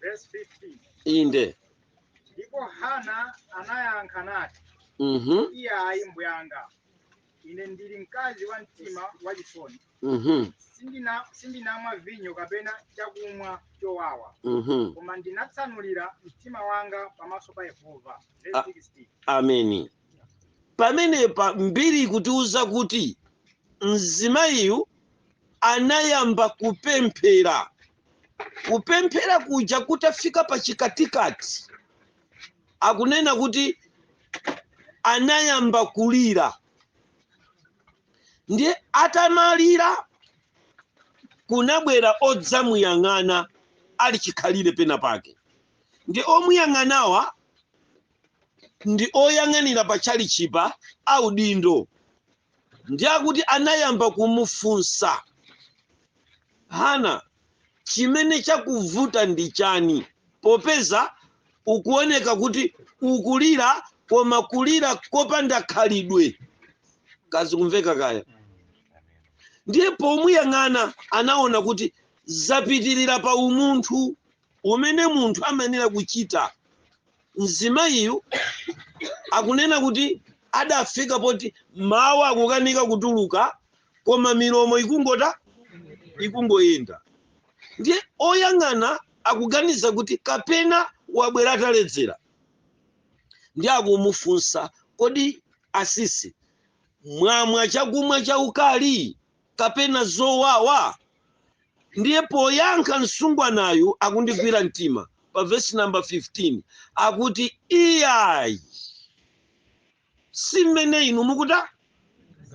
verse 15 inde ndipo hana anayankha nati mhm iyayi mbuyanga ine ndili mkazi wa mtima wachisoni mhm sindina sindinamwa vinyo kapena chakumwa chowawa mhm koma ndinatsanulira mtima wanga pamaso pa yehova Verse Ah. 16. ameni pamenepa mbiri ikutiuza kuti mzimayiyu anayamba kupemphera kupemphera kuja kutafika pa chikatikati akunena kuti anayamba kulira ndiye atamalira kunabwera odzamuyang'ana ali chikhalire pena pake ndi omuyang'anawa ndi oyang'anira pa tchalitchipa audindo ndiye akuti anayamba kumufunsa hana chimene chakuvuta ndi chani popeza ukuoneka kuti ukulira koma kulira kopanda khalidwe kazikumveka kaya ndiye pomuyang'ana anaona kuti zapitirira pa umunthu umene munthu amayenera kuchita. Mzimayiyu akunena kuti adafika poti mawu akukanika kutuluka koma milomo ikungota ikungoyenda. Ndiye oyang'ana akuganiza kuti kapena wabwera ataledzera. Ndiye akumufunsa, kodi asisi mwamwa chakumwa chaukali? kapena zowawa? Ndiye poyankha msungwanayu akundigwira mtima pa vesi namba 15 akuti iyayi si mmene inu mukuta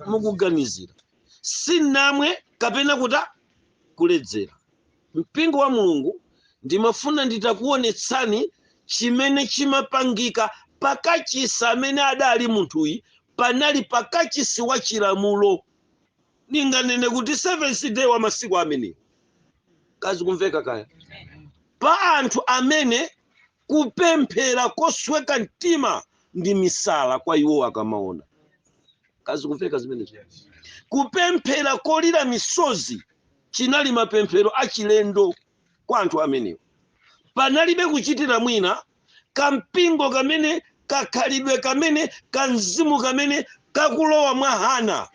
mukuganizira sinamwe kapena kuta kuledzera mpingo wa mulungu ndimafuna nditakuonetsani chimene chimapangika pakachisi amene adali munthuyi panali pakachisi wa chilamulo ninganene kuti seventh day wa masiku amenewo kazikumveka kaya pa anthu amene kupemphera kosweka mtima ndi misala kwa iwo akamaona kazikumveka zimenezo kupemphera kolira misozi chinali mapemphero achilendo kwa anthu amenewo panalibe kuchitira mwina kampingo kamene kakhalidwe kamene kamzimu kamene kakulowa mwa hana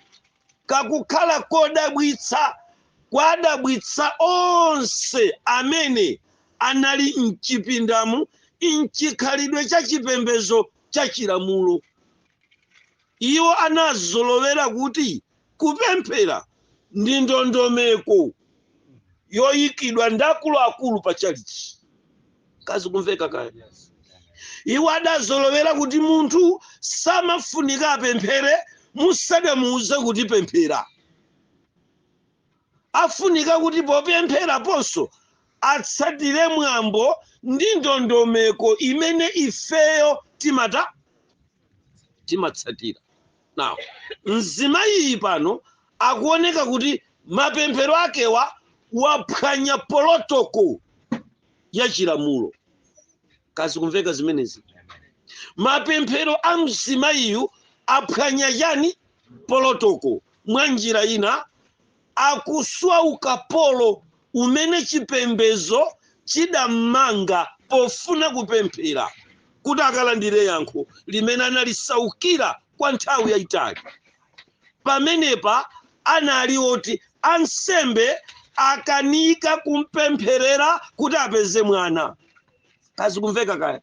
kakukhala kodabwitsa kwadabwitsa onse amene anali mchipindamu mchikhalidwe cha chipembedzo cha chilamulo iwo anazolowera kuti Kupemphera ndi ndondomeko yoyikidwa ndi akuluakulu pa tchalitchi. Kazikumveka kaya? Iwo adazolowera kuti munthu samafunika apemphere musadamuuze kuti pemphera. Afunika kuti popempheraponso atsatire mwambo ndi ndondomeko imene ifeyo timatani? Timatsatira. now mzimayiyi pano akuoneka kuti mapemphero akewa aphwanya polotoko ya chilamulo kazikumveka zimenezi mapemphero a mzimayiyu aphwanya chani polotoko mwa njira ina akuswa ukapolo umene chipembedzo chidammanga pofuna kupemphera kuti akalandire yankho limene analisaukira kwa nthawi yayitali. Pamenepa anali oti ansembe akanika kumpempherera kuti apeze mwana. Kazikumveka kaya?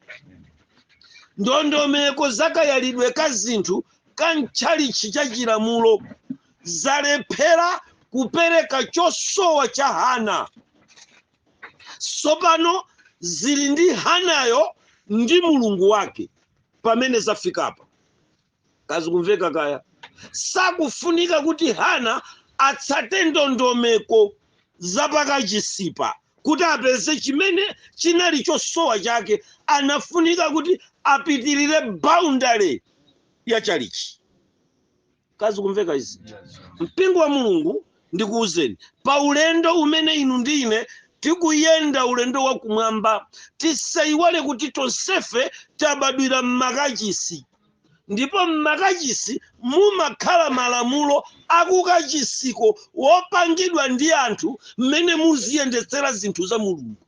Ndondomeko za kayalidwe ka zinthu ka m'tchalitchi cha chilamulo zalephera kupereka chosowa cha hana tsopano zili ndi hanayo ndi mulungu wake pamene zafikapa kazikumveka kaya sakufunika kuti hana atsate ndondomeko zapakachisipa kuti apeze chimene chinali chosowa chake anafunika kuti apitirire boundary ya tchalitchi kazikumveka izi mpingo wa mulungu ndikuwuzeni pa ulendo umene inu ndi ine tikuyenda ulendo wa kumwamba tisayiwale kuti tonsefe tabadwira m'makachisi ndipo m'makachisi mumakhala malamulo akukachisiko wopangidwa ndi anthu mmene muziyendetsera zinthu za mulungu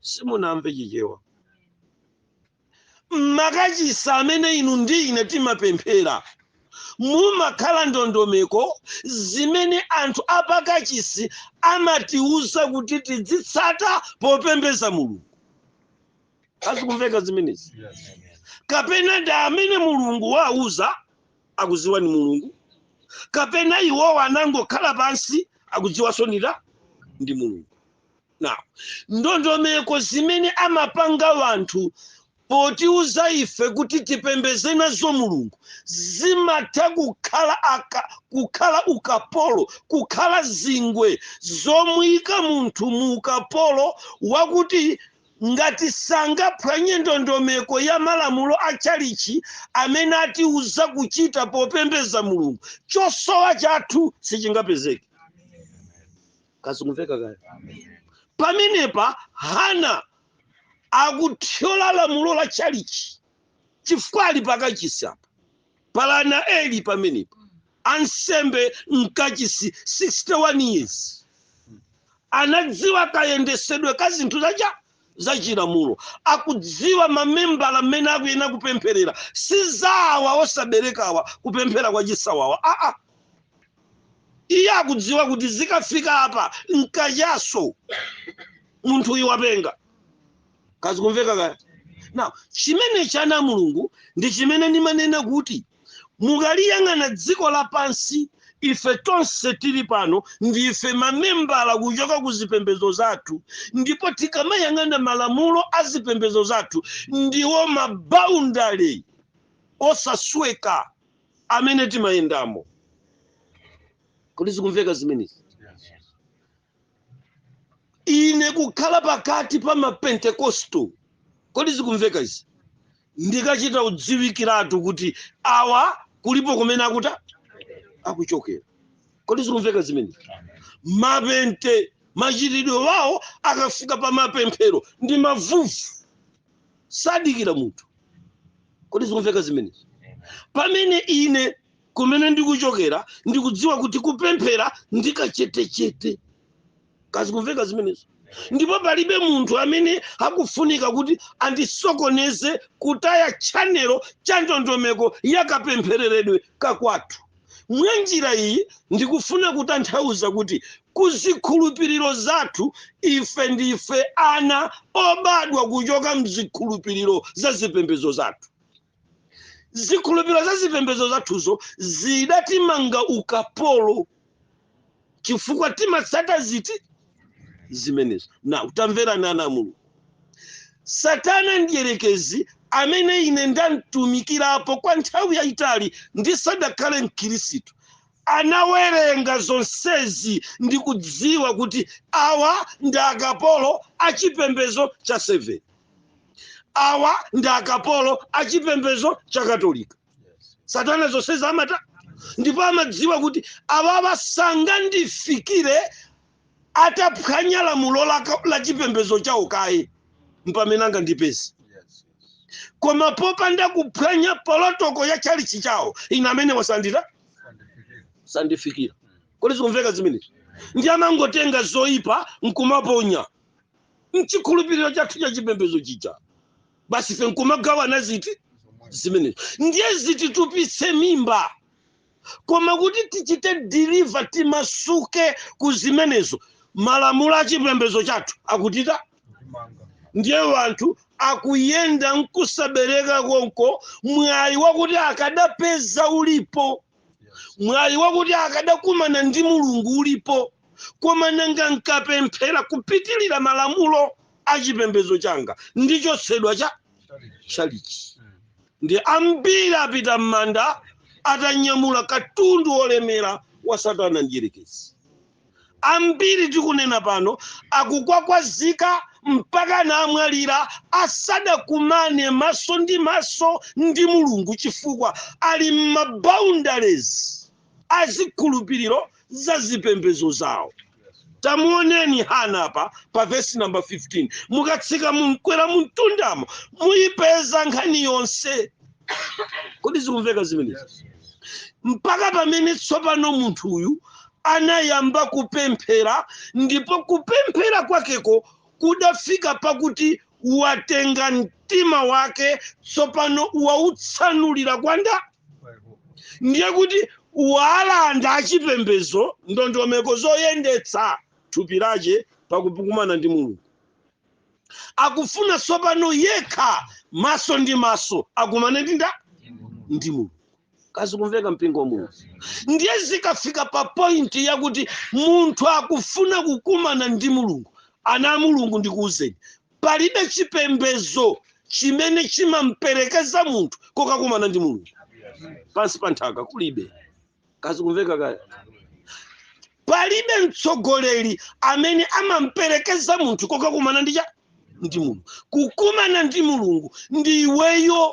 simunamve chichewa m'makachisi amene inu ndi ine timapemphera mumakhala ndondomeko zimene anthu apakachisi amatiuza kuti tidzitsata popembeza mulungu kazikumveka zimenezi kapena ndi amene mulungu wauza akudziwa ni mulungu kapena iwowo anangokhala pansi akudziwanso ndani ndi mulungu Now, ndondomeko zimene amapanga wanthu potiuza ife kuti tipembeze nazo mulungu zimatha kukhala aka kukhala ukapolo kukhala zingwe zomuyika munthu mu ukapolo wakuti ngati sitingaphwanye ndondomeko ya malamulo a tchalichi amene atiuza kuchita popembeza mulungu chosowa chathu sichingapezeke kazikumveka kaya pamenepa hana akuthyola lamulo la chalichi chifukwa ali pakachisi apa palana eli pamenepa ansembe mkachisi 61 years anadziwa kayendesedwe ka zinthu zacha za chilamulo akudziwa mamembala mmene akuyenera kupempherera si za awa osaberekawa kupemphera kwa chisawawa aa iye akudziwa kuti zikafika apa nkachaso munthu uyu wapenga kazikumveka kaya now chimenecho ana a mulungu ndi chimene ndimanena kuti mukaliyang'ana dziko lapansi ife tonse tili pano ndife mamembala kuchoka ku zipembedzo zathu ndipo tikamayang'ana malamulo a zipembedzo zathu ndiwo mabaundale osasweka amene timayendamo kodi zikumveka zimenezi ine kukhala pakati pa mapentekosto kodi zikumveka izi ndikachita kudziwikiratu kuti awa kulipo kumene akuta akuchokera kodi zikumveka zimenezi mapente machitidwe wawo akafika pa mapemphero ndi mavuvu sadikira munthu kodi zikumveka zimenezi pamene ine Kumene ndikuchokera, ndikudziwa kuti kupemphera ndi kachetechete. Kazikumveka zimenezo? Ndipo palibe munthu amene akufunika kuti andisokoneze kutaya tchanelo cha ndondomeko ya kapemphereredwe ka kwathu. Mwa njira iyi, ndikufuna kutanthauza kuti ku zikhulupiriro zathu, ife ndife ana obadwa kuchoka m'zikhulupiriro za zipembedzo zathu. zikhulupiriro za zipembedzo zathuzo zidatimanga ukapolo chifukwa timatsata ziti zimenezo now tamverani ana a mulungu satana mdyerekezi amene ine ndamtumikirapo kwa nthawi yayitali ndisadakhale mkhirisitu anawerenga zonsezi ndi kudziwa kuti awa ndi akapolo a chipembedzo cha 7 awa ndi akapolo a chipembedzo cha katolika satana zonsezi amata ndipo amadziwa kuti awawa sangandifikire ataphwanya lamulo laka- la chipembedzo chawo kaye mpamene angandipeze koma popanda kuphwanya polotoko ya tchalichi chawo ine amene wasandita sandifikira kodi zikumveka zimenezi ndiye amangotenga zoyipa nkumaponya mchikhulupiriro chathu cha chipembedzo chija basi ife nkumagawana ziti zimenezo ndiye zititupitse mimba koma kuti tichite deliver timasuke ku zimenezo malamulo a chipembedzo chathu akutita ndiye wanthu akuyenda nkusabereka koma mwayi wakuti akadapeza ulipo mwayi wakuti akadakumana ndi mulungu ulipo koma nanga nkapemphera kupitirira malamulo a chipembedzo changa ndichotsedwa cha tchalichi ndiye ambiri apita m'manda atanyamula katundu wolemera wa satana mdyerekezi Ambiri tikunena pano akukwakwazika mpakana amwalira asadakumane maso ndi maso ndi Mulungu chifukwa ali m'ma boundaries a zikhulupiriro za zipembezo zawo. Tamuoneni Hana apa pa vesi namba 15. Mukatsika mumkwera mumtundamo muyipeza nkhani yonse. kodi zikumveka zimenezi mpaka pamene tsopano munthuyu anayamba kupemphera ndipo kupemphera kwakeko kudafika pakuti watenga mtima wake tsopano wautsanulira kwa nda ndiye kuti walanda achipembezo ndondomeko zoyendetsa thupi lache pakukumana ndi mulungu akufuna tsopano yekha maso ndi maso akumane ndi nda ndi mulungu kazikumveka mpingo wa mulungu ndiye zikafika pa pointi yakuti munthu akufuna kukumana ndi mulungu ana a mulungu ndikuwuzeni palibe chipembedzo chimene chimamperekeza munthu kokakumana ndi mulungu pansi pa nthaka kulibe kazikumveka kaya palibe mtsogoleri amene amamperekeza munthu kokakumana ndi nda ndi mulungu kukumana ndi mulungu ndi iweyo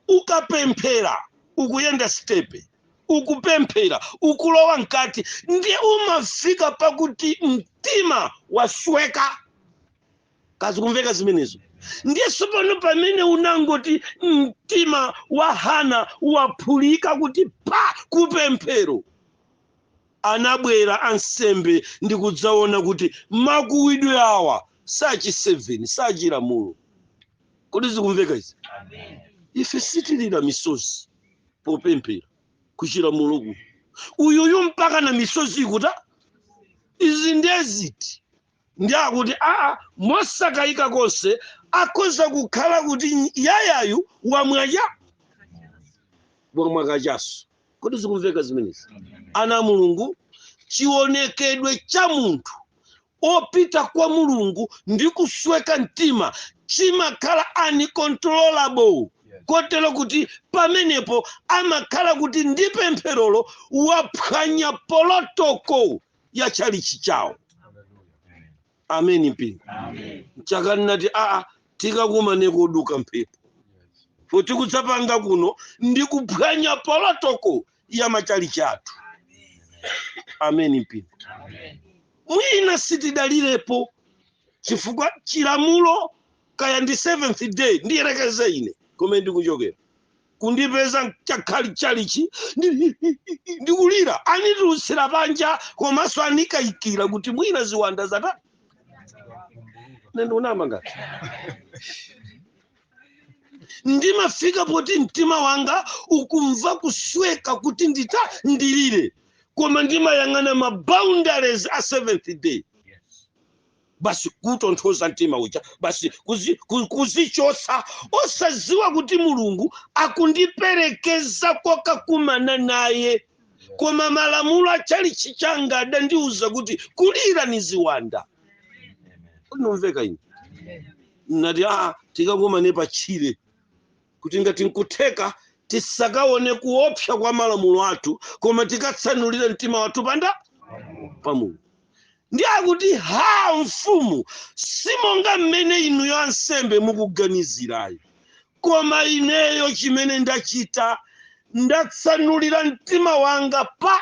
ukapemphera ukuyenda stepe ukupemphera ukulowa mkati ndiye umafika pakuti mtima wasweka kazikumveka zimenezo ndiye tsopano pamene unangoti mtima wa hana waphulika kuti pa kupemphero anabwera ansembe ndi kudzaona kuti makuwidwe awa sa chi 7 sa chilamulo kodi zikumveka izi ife sitilira misozi popemphera kuchira mulungu uyuyu mpaka na misozi ikuta izi ndeziti nde akuti aa mosakayika konse akhoza kukhala kuti yayayu wamwa cha wamwa kachaso kodi zikumveka zimenezi ana a mulungu chionekedwe cha munthu opita kwa mulungu ndi kusweka mtima chimakhala uncontrollable kotero kuti pamenepo amakhala kuti ndi pempherolo waphwanya polotoko ya tchalichi chawo ameni mpingo nchake ndinati aa tikakumane koduka mphepo poti kudzapanga kuno ndi kuphwanya polotoko ya machalichi athu ameni mpingo mwina sitidalirepo chifukwa chilamulo kaya ndi seventh day ndiyerekeze ine kumene ndikuchokera kundipeza tchali tchalichi ndikulira anitulutsira panja komanso anikayikira kuti mwina ziwanda zata ine ndikunama ngati ndimafika poti mtima wanga ukumva kusweka kuti ndita ndilire koma ndimayang'ana ma boundaries a seventh day basi kutonthoza mtima uja basi kuzichotsa osadziwa kuti mulungu akundiperekeza kokakumana naye koma malamulo a tchalitchi changa adandiuza kuti kulira ni ziwanda ndumveka ine ndati a tikakumane pa tchire kuti ngati nkutheka tisakaone kuopsa kwa malamulo athu koma tikatsanulire mtima wathu panda pa mulungu nde akuti aa mfumu simonga mmene inuyo ansembe mukuganiziramo koma ineyo chimene ndachita ndatsanulira mtima wanga pa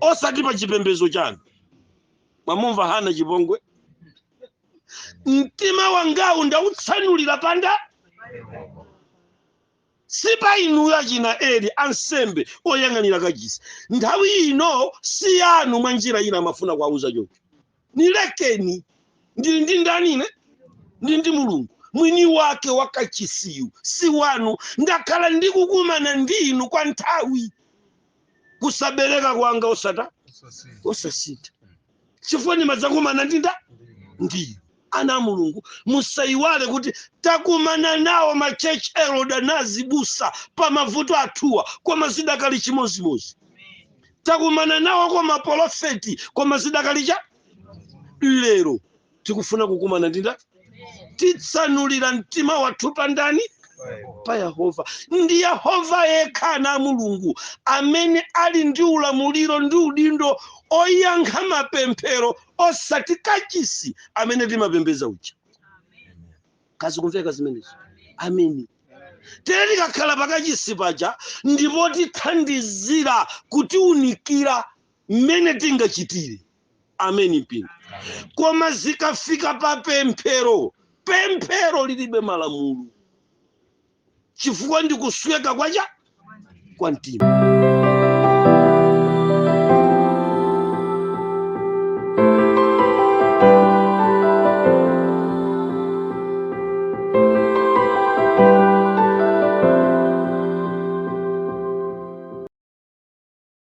osati pa chipembedzo chanu mwamumva hana chipongwe mtima wangawu ndautsanulira panda si pa inuyo achina eli ansembe oyang'anira kachisi nthawi ino si yanu mwa njira ina amafuna kuwauza choncho nilekeni ndili ndi ndani ine ndi ndi mulungu mwini wake wa kachisiyu si wanu ndakhala ndikukumana ndi inu kwa nthawi kusabereka kwanga osata osasintha chifukwa ndinadzakumana ndi nda ndi ana a mulungu musayiwale kuti takumana nawo ma church elder ndi azibusa pa mavuto athuwa koma zidakali chimozimozi takumana nawo ma polofeti koma zidakali cha lero tikufuna kukumana ndi ndani titsanulira mtima wathu pa ndani pa yehova ndi yehova yekha ana a mulungu amene ali ndi ulamuliro ndi udindo oyankha mapemphero osati kachisi amene timapembeza uja kazikumveka zimenezo ameni tere tikakhala pakachisi paja ndi potithandizira kutiunikira mmene tingachitire amen mpingo koma zikafika pa pemphero pemphero lilibe malamulo chifukwa ndi kusweka kwacha kwa mtima